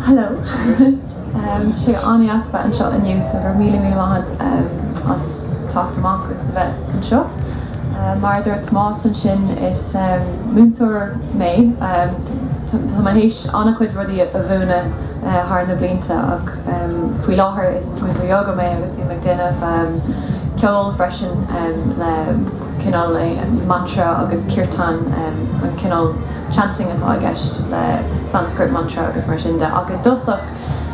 Hello. Tá sé an-deas a bheith anseo inniu so go raibh míle míle maith agat as teacht amach agus a bheith anseo. Mar a dúirt Tomás ansin is múinteoir mé. Tá mé théis an-chuid rudaí a mhúineadh. thar na blianta ach faoi láthair is múinteoir ióga mé agus bím ag déanamh ceoil freisin le cineál mantra agus kirtan, an cineál chanting atá i gceist le Sanskrit mantra agus mar sin de ach i dtosach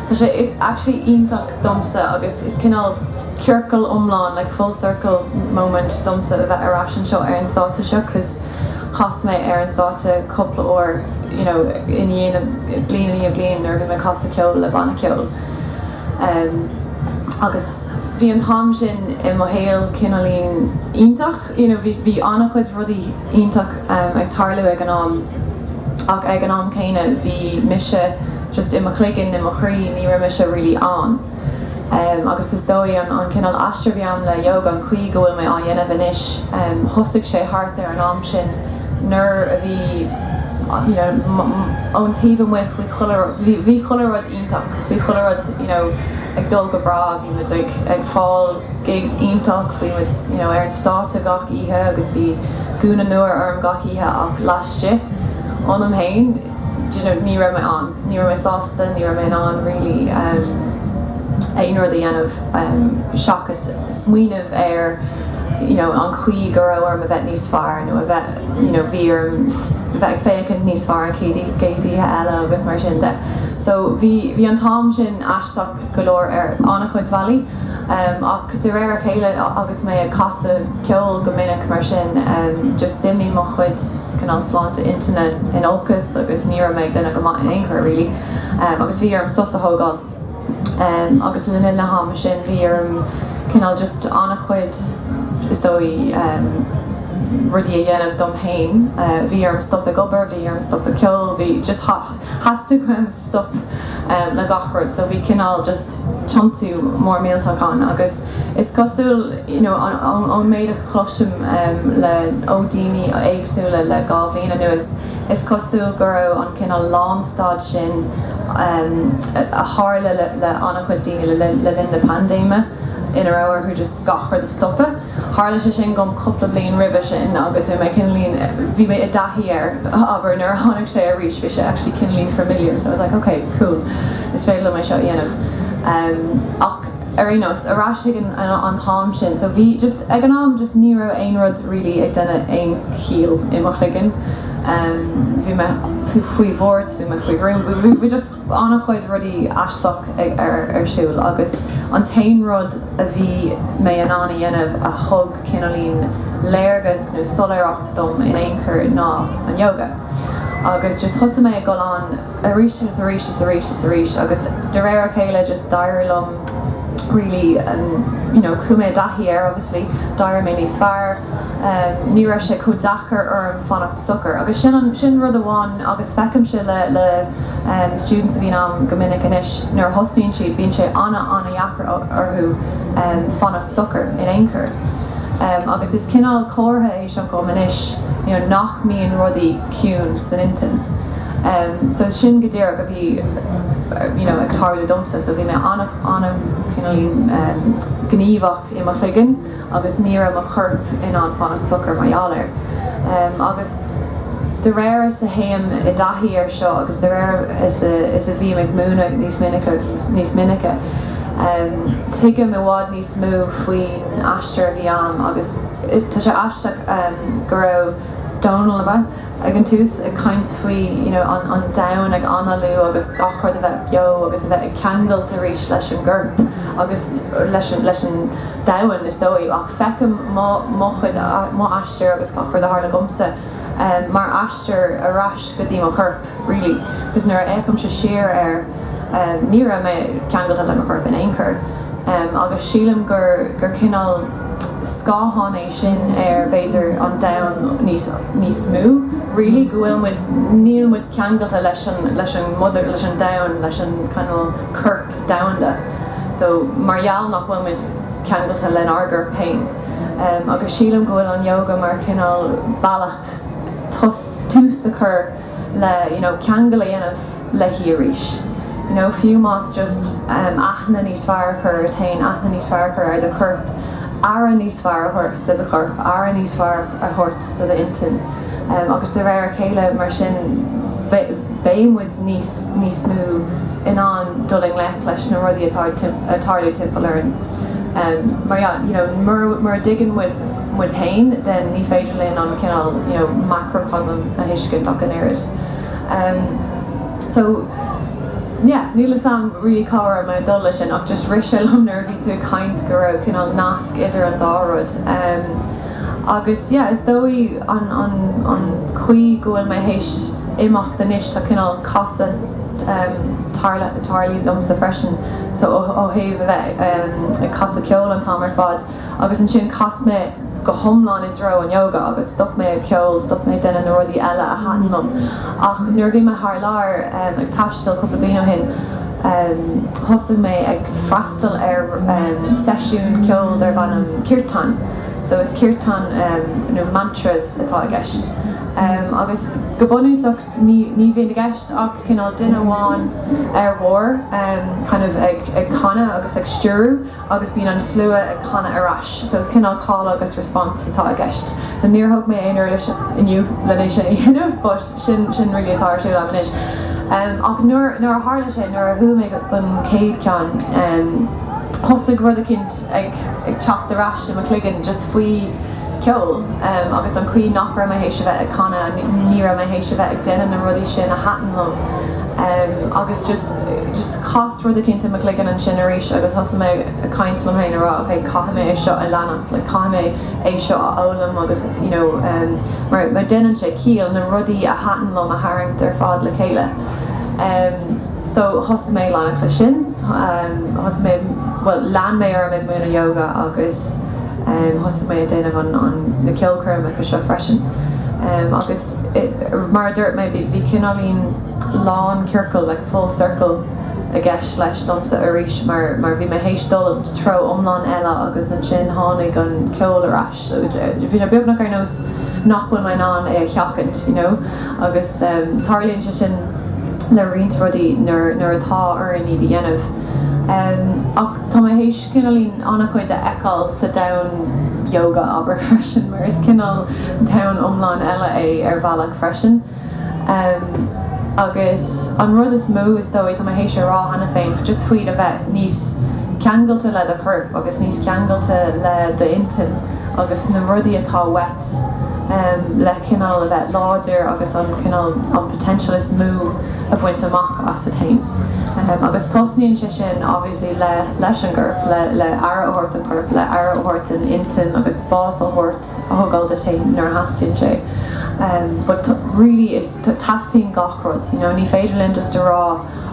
tá sé actually iontach domsa agus is cineál ciorcal iomlán like full circle moment domsa a bheith ar ais anseo ar an stáitse seo cause Chas mé ar an stáitse cúpla uair you know i ndiaidh bliain i ndiaidh bliain nuair a bhí mé ag casadh ceoil le banna ceoil ehm agus bhí an t-am sin i mo shaol cineáilín iontach you know bhí bhí an-chuid rudaí iontach ehm ag tarlú ag an am ach ag an am céanna bhí mise just i mo chloigeann i mo chroí ní raibh mise really ann. Em, agus is dóigh, an, an cineál aistir a bhí a'm le Yoga, an chaoi go bhfuil mé á dhéanamh anois, em, thosaigh sé thart ar an am sin nuair a bhí, you know, m', m', ón taobh amuigh bhí chuile rud, bhí, bhí chuile rud iontach, bhí chuile rud, you know, ag dul go breá, bhí muid ag, ag fáil gigs iontach, bhí muid, you know, ar an stáitse gach oíche agus bhí gúna nua orm gach oíche ach laistigh ionam fhéin, do you know, ní raibh mé ann. Ní raibh mé sásta, ní raibh mé in ann really em aon rud a dhéanamh em seachas smaoineamh ar you know an chaoi go raibh orm a bheith níos fearr nó a bheith you know bhí orm bheith ag féachaint níos fearr an chéad oíche eile agus mar sin de. So bhí bhí an t-am sin aisteach. go leor ar an-chuid bealaí ach de réir a chéile agus mé ag casadh ceoil go minic mar sin just d'imigh mo chuid cineál sláinte intinne in olcas agus ní raibh mé ag déanamh go maith in aon chor really agus bhí orm sos a thógáil agus le linn na hama sin bhí orm cineál just an-chuid is dóigh rudaí a dhéanamh dom féin bhí orm stop ag obair bhí orm stop ag ceol bhí just theastaigh uaim stop le gach rud so bhí cineál just tiontú mór millteach ann agus is cosúil you know ón méid a chloisim le ó daoine éagsúla le dhá bhliain anuas is cosúil go raibh an cineál lánstad sin a tharla le an-chuid daoine le linn na paindéime ina raibh orthu just gach rud a stopadh. Tharla sé sin dhom cupla bliain roimhe sin agus bhí mé cineáilín, bhí mé i dtaithí air, abair, nuair a tháinig sé arís bhí sé actually cineáilín familiar so I was like ok, cool, is féidir liom é seo a dhéanamh. Ach ar aon nós, ar ais ag an t-am sin so bhí just, ag an am just ní raibh aon rud really ag déanamh aon chiall i mo chloigeann. Bhí mé faoi bhuairt, bhí mé faoi ghruaim, bhí just. Bhí an-chuid rudaí aisteach ar siúl agus an t-aon rud a bhí mé in ann a dhéanamh a thug cineáilín léargas nó soiléireacht dom in aon chor ná an Yoga. Agus just thosaigh mé ag dul ann arís agus arís is arís is arís agus de réir a chéile just d'éirigh liom really you know chuaigh mé i dtaithí air obviously d'éirigh mé níos fearr. Ní raibh sé chomh deacair orm fanacht socair agus sin an, sin rud amháin agus feicim sé le, le students a bhíonn a'm go minic anois nuair a thosnaíonn siad bíonn sé ana, ana-dheacair orthu fanacht socair in aon chor agus is cineál comhartha é seo dhom anois you know nach mbíonn rudaí ciúin san intinn so sin go díreach a bhí you know ag tarlú domsa so bhí mé ana, ana-chineáilín gníomhach i mo chloigeann. agus ní raibh mo chorp in ann fanacht socair mar gheall air. Agus de réir is a théim i dtaithí air seo agus de réir is a bhím ag múineadh níos minice agus níos minice, tuigim i bhfad níos mó faoin aistear a bhí a'm agus tá sé aisteach go raibh Dónall. ag an tús ag caint faoi you know an an domhan ag análú agus gach rud a bheith beo agus a bheith ag ceangailt arís leis an gcorp agus leis an leis an domhan is dóigh ach feicim mo mo chuid mo aistear agus gach rud a tharla dhomsa em mar aistear ar ais go dtí mo chorp really cos nuair a fhéachaimse siar air em ní raibh mé ceangailte le mo chorp in aon chor em agus sílim gur gur cineál scáthán é sin ar, b'fhéidir, an domhan níos, níos mó, really, go bhfuil muid, níl muid ceangailte leis an, leis an mother, leis an domhan, leis an cineál corp domhanda. So, mar gheall nach bhfuil muid ceangailte lenár gcorp féin. Agus sílim go bhfuil an Yoga mar chineál bealach tús, tús a chur, le you know ceangal a dhéanamh leis arís you know fiú más just em aithne níos fearr a chur ort féin aithne níos fearr a chur ar do chorp aire níos fearr a thabhairt do do chorp aire níos fearr a thabhairt do do intinn em agus de réir a chéile mar sin beidh muid níos níos mó in ann dul i ngleic leis na rudaí atá ag tarlú timpeall orainn em mar yeah you know mura mura dtuigeann muid muid féin, then ní féidir linn an cineál, you know, macrocosm a thuiscint ach an oiread. Em. So, yeah, níl 'fhios a'm really cá raibh mé ag dul leis sin ach just rith sé liom nuair a bhí tú ag caint go raibh cineál nasc idir an dá rud. Em. Agus, yeah, is dóigh an, an, an chaoi go bhfuil mé théis imeacht anois tá cineál casadh, em, tarla, tarlaithe liomsa freisin. So ó, ó thaobh a bheith, em, ag casadh ceoil an t-am ar fad. agus ansin chas mé go hiomlán i dtreo an ióga agus stop mé ag ceol, stop mé ag déanamh na rudaí eile a thaitin liom ach nuair a bhí mé thar lear ag taisteal cúpla bliain ó shin thosaigh mé ag freastal ar seisiún ceoil darb ainm Kirtan so is Kirtan nó mantras atá i gceist agus go bunúsach ní bhíonn i gceist ach cineál duine amháin ar barr kind of ag canadh agus ag stiúradh agus bíonn an slua ag canadh ar ais so is cineál call agus response atá i gceist so níor thug mé aon uirlis inniu len é sin a dhéanamh but sin sin really atá ar siúl agam anois em ach nuair nuair a tharla sé nuair a chuaigh mé go an chéad ceann em thosaigh rud eicínt ag ag teacht ar ais i mo chloigeann just faoi ceol em agus an chaoi nach raibh mé th'éis a bheith ag canadh ní ní raibh mé th'éis a bheith ag déanamh na rudaí sin a thaitin liom em agus just just Chas rud eicínt i mo chloigeann ansin arís agus thosaigh mé a' caint liom fhéin a' rá ok caithfidh mé é seo a leanacht like caithfidh mé é seo a fhoghlaim agus you know ehm mar mar déanann sé ciall na rudaí a thaitin liom a tharraingt ar fad le chéile ehm so thosaigh mé a' leanacht leis sin ehm thosaigh mé bhuel lean mé orm ag múineadh yoga agus ehm thosaigh mé a' déanamh an an na ceolchoirmeacha seo freisin ehm agus Mar a dúirt mé bhí cineáilín lán ciorcail, like full circle, i gceist leis domsa arís mar mar bhí mé théis dul treo iomlán eile agus ansin tháinig an ceol ar ais so bhí sé beagnach ar nós nach bhfuil mé in ann é a sheachaint you know agus tarlaíonn sé sin le roinnt rudaí nuair nuair atá orainn iad a dhéanamh ach tá mé théis cineáilín an-chuid a fheiceáil sa domhan Yoga, abair, freisin, mar is cineál domhan iomlán eile é ar bhealach freisin. Agus an rud is mó, is dóigh, tá mé théis a rá cheana féin, just faoi a bheith níos ceangailte le do chorp agus níos ceangailte le d'intinn agus na rudaí atá uait le cineál a bheith láidir agus an cineál, an potential is mó a bhaint amach asat féin. Agus tosnaíonn sé sin, le, le, leis an gcorp, le, le aire a thabhairt don chorp, le aire a thabhairt don intinn agus spás a thabhairt, a thógáil duit féin nuair a theastaíonn sé. em. but t', really is t', teastaíonn gach rud you know ní féidir linn just a rá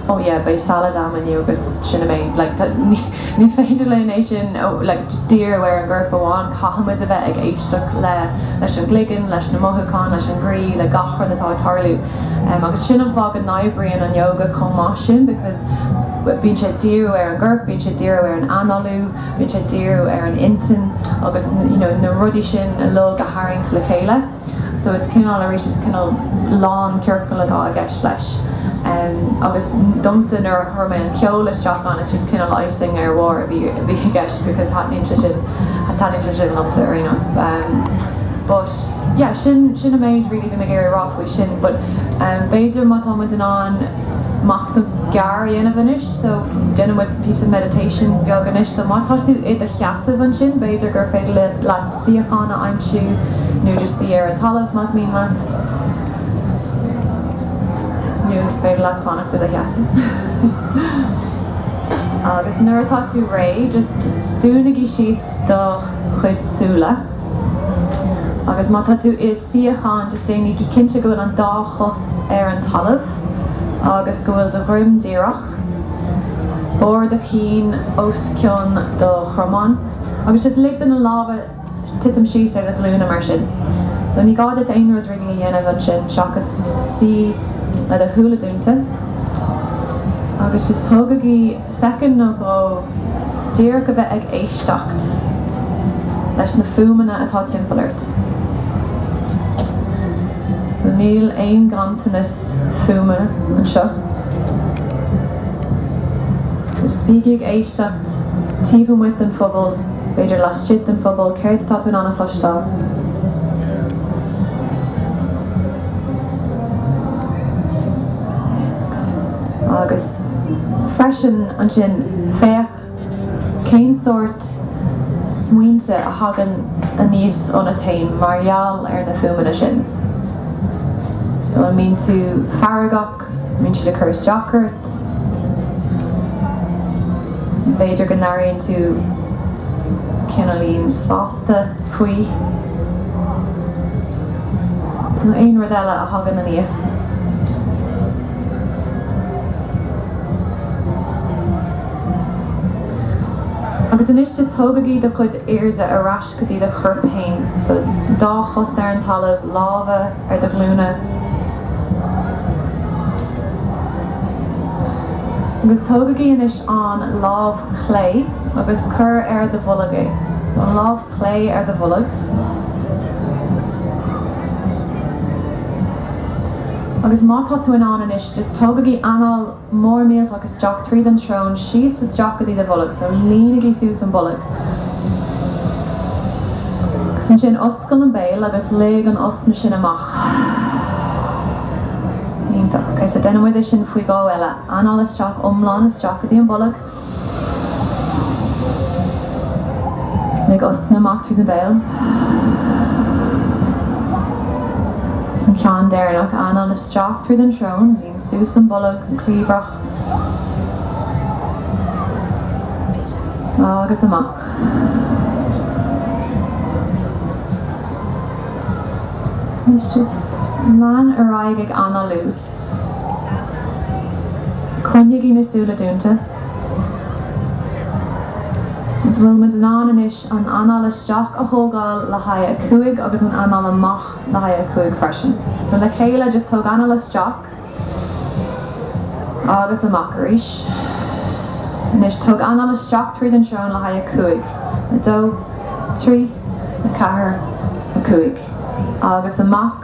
oh yeah beidh salad a'm inniu agus sin a mbeidh like t', ní, ní féidir linn é sin a like just díriú ar an gcorp amháin caithfimid a bheith ag éisteacht le, leis an gcloigeann, leis na mothúcháin, leis an gcroí, le gach rud atá ag tarlú. em. agus sin an fáth go n-oibríonn an Yoga chomh maith sin because. Bíonn sé ag díriú ar an gcorp, bíonn sé ag díriú ar an análú, bíonn sé ag díriú ar an intinn agus you know na rudaí sin uilig a tharraingt le chéile. So is cineál arís is cineál lán ciorcal atá i gceist leis. Em agus domsa nuair a chuir mé an ceol isteach ann is just cineál icing ar a bharr a bhí a bhí i gceist because taitníonn sé sin taitníonn sé sin liomsa ar aon nós. Em but yeah sin sin an méid really bhí mé ag iarraidh a rá faoi sin but em b'fhéidir má tá muid in ann machnamh gearr a dhéanamh anois so déanfaidh muid píosa meditation beag anois so má tá tú i do sheasamh ansin b'fhéidir gur féidir leat suíochán a aimsiú nó just suí ar an talamh más mian leat nó is féidir leat fanacht i do sheasamh agus nuair atá tú réidh just dúnaigí síos do chuid súile agus má tá tú i suíochán, just déanaigí cinnte go bhfuil an dá chos ar an talamh agus go bhfuil do dhroim díreach, barr do chinn os cionn do chromáin agus just lig do na lámha titim síos ar do ghlúine mar sin. So ní gá duit aon rud really a dhéanamh ansin seachas suí le do shúile dúnta agus just tógaigí. soicind nó dhó díreach a bheith ag éisteacht leis na fuaimeanna atá timpeall ort. So níl aon ghanntanas fuaime anseo. So just bígí ag éisteacht taobh amuigh den phuball, b'fhéidir laistigh den phuball, céard atá tú in ann a chloisteáil. Agus freisin ansin féach cén sórt smaointe a thagann aníos ionat fhéin mar gheall ar na fuaimeanna sin. So an mbíonn tú feargach, an mbíonn siad ag cur isteach ort, b'fhéidir go n-airíonn tú cineáilín sásta faoi, nó aon rud eile a thagann aníos. Agus anois just tógaigí do chuid airde ar ais go dtí do chorp féin. So, dá chos ar an talamh, lámha ar do nglúine. Agus tógaigí anois an lámh chlé agus cuir ar do bholg é. So, an lámh. clé ar do bholg agus má tá tú in ann anois just tógaigí anáil mór millteach isteach tríd an tsrón síos isteach go dtí do bholg so líonaigí suas an bolg agus ansin oscail an béal agus lig an osna sin amach iontach ok so déanfaidh muid é sin faoi dhó eile anáil isteach iomlán isteach go dtí an bolg Lig osna amach tríd an béal. An ceann deireannach anáil isteach tríd an srón. Ním suas an bolg, an cliabhrach. Agus amach. Anois just lean ar aghaidh ag análú. Coinnigí na súile dúnta. Is an bhfuil muid in ann anois an anáil isteach a thógáil le haghaidh a cúig agus an anáil amach le haghaidh a cúig freisin. So le chéile just tóg anáil isteach agus amach arís. Anois tóg anáil isteach tríd an srón le haghaidh a cúig, dó, a trí, a ceathair, a cúig agus amach.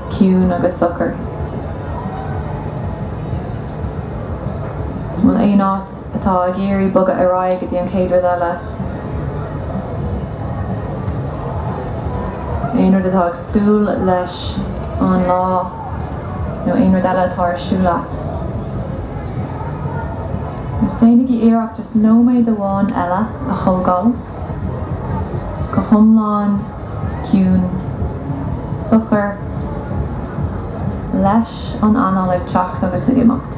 ciúin agus socair. An bhfuil aon áit atá ag iarraidh bogadh ar aghaidh go dtí an chéad rud eile? Aon rud atá ag súil leis an lá nó aon rud eile atá ar siúl leat? Just déanaigí iarracht just nóiméad amháin eile a thógáil. go hiomlán ciúin, socair, leis an anáil ag teacht agus ag imeacht.